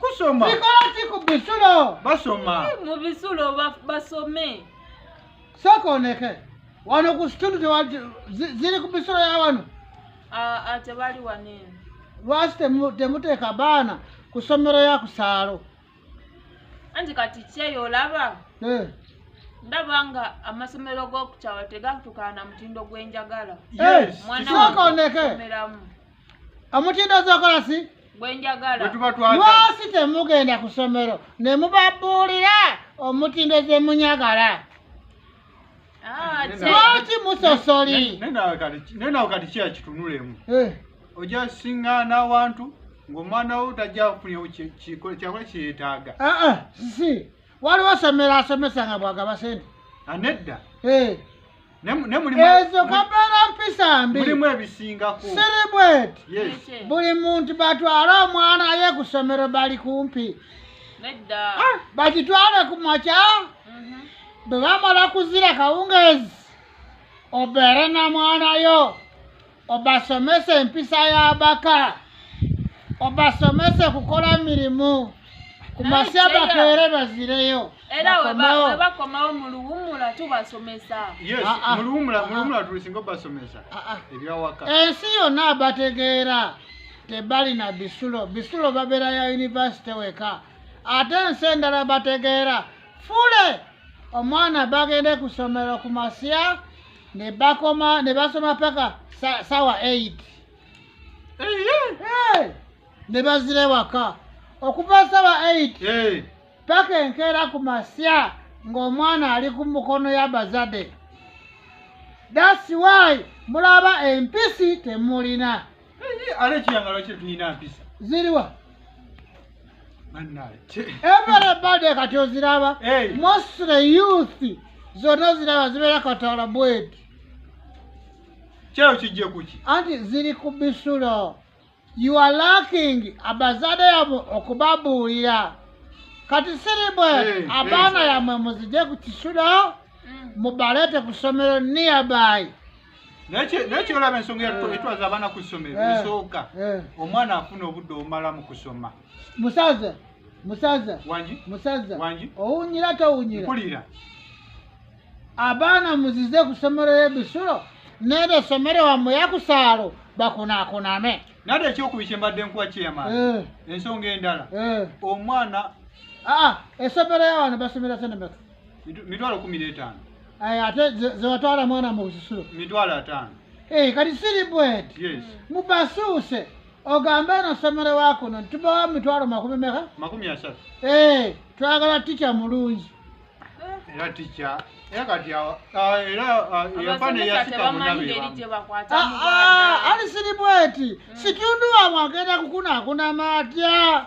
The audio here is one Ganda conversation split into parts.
kusoma kikola ki ku bisulo basoma mu bisulo basome sokoneke wano ku situndi ziri ku bisulo ya wano tebali wanene lwaki temuteeka baana ku somero ya kusaalo anti kati kyeyo olaba eh. ndaba nga amasomero g'okukyalo tegatukaana mutindo gwenjagala eh, mwana waomeramu omutindo ozokola si lwaki temugenda ku somero ne mubabuulira omutindo zemunyagala ah, lwaki musosolinenawe kati kiya kitunulemu eh. oja singana awantu ngaomwana wo tajja kufunyawo kyakola kyeyetaaga ah, ah, si waliwo somero asomesa nga bwagaba sente anedda eh. ezo kabeera mpisa mbi siribweti buli muntu batwale omwana ye ku ssomero bali kumpi ah, bakitwale ku makya mhm. bwe bamala kuzira kawungeezi obeere na mwana yo obasomese empisa y'abaka obasomese kukola mirimu ku masya bakeere bazireyo era webakomawo mu luwumula tubasomesa ah, ah. ah, tulisinga obasomesa ebyawaka ensi yonna abategeera tebalina bisulo bisulo babeera ya yunivasite weka ate ensi endala bategeera fule omwana bagende ku ssomero ku masya ne bakoma ne basoma paka sawa 8 ne bazira ewaka okuva sawa 8 paka enkeera ku masya ng'omwana ali ku mukono ya bazade dasi wy mulaba empisi temulina ale ekiyangalo kye tulina mpisa ziriwa everybody kati oziraba mostly youth zonna oziraba zibeera katala bweti kyeyo kijje kuki anti ziri ku bisulo you are lacking abazade yabo okubabuulira kati siri bwe abaana yamwe muzije ku kisulo mm. mubalete ku somero nearby naye kyolaba ensonga eh. etwaza abaana ku ssomero eh. esooka eh. omwana afuna obudde obumala mu kusoma musaza musaza wangi musaza wangi owunyira towunyira mpulira abaana muzize ku ssomero y'ebisulo nebe ssomero wamwe yakusaalo bakunakuname nade ekyokubi kyembadde nkuwa kyeyama ensonga endala omwana aa ah, ah, essomero yawano basomera senemeka mitwalo kumi n'etaano ate zewatwala mwana mu busisiro mitwalo ataano eh, kati siri bwet mubasuuse ogambe eno somero wakuno ntubawa mitwalo makumi meka makumi asatu eh, twagala tica mulungi era tica era kati era yafana yasikamunabeali siri bweti situndu wamwe agenda kukunakunama atya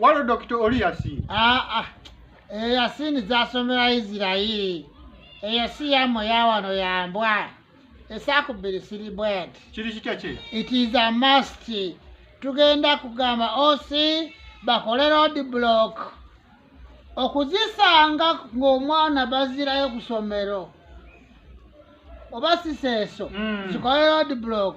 waliwo dokita oli yasiini aa ah, ah. eyo eh, yasiini zasomera isirairi eyo si yamwe yawano yambwa esakubiri siri bwet kiri kitya kye it is a must tugenda kugamba osi bakole road block okuzisanga ng'omwana bazirayo ku somero oba siseeso mm. zikole road block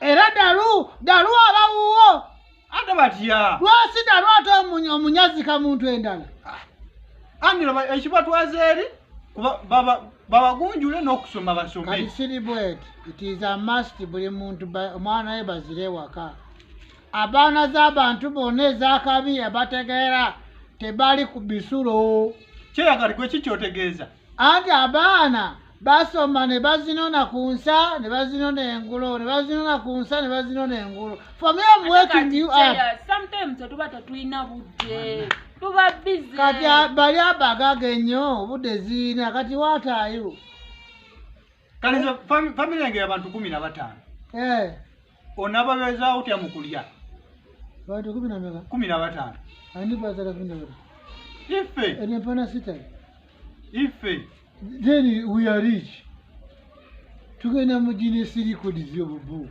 era dalu dalu aba wuwo ate batya lwasi dalu ate omunyazika muntu endala ah. angelo ekibatwaza eri babagunjule n'okusoma basomeisiribwet it is a must buli muntu omwana we bazire ewaka abaana z'abantu bonna ezakabi abategeera tebali ku bisulo kyeyagalikwe kikyotegeeza anti abaana basoma ne bazinona ku nsa ne bazinona engulo ne bazinona ku nsa ne bazinona engulo for me am waking you up sometimes tuba tatulina budde tuba busy kati bali abagaga ennyo obudde ziina kati watayo kale nze fami- family yange yabantu kumi na bataano Eh, onababezaawo otya mu kulya bantu kumi na meka kumi na bataano ani bazala kumi na bana ife ene mpana sita ife then we are rich tugenda mu ginesirikodizi obubu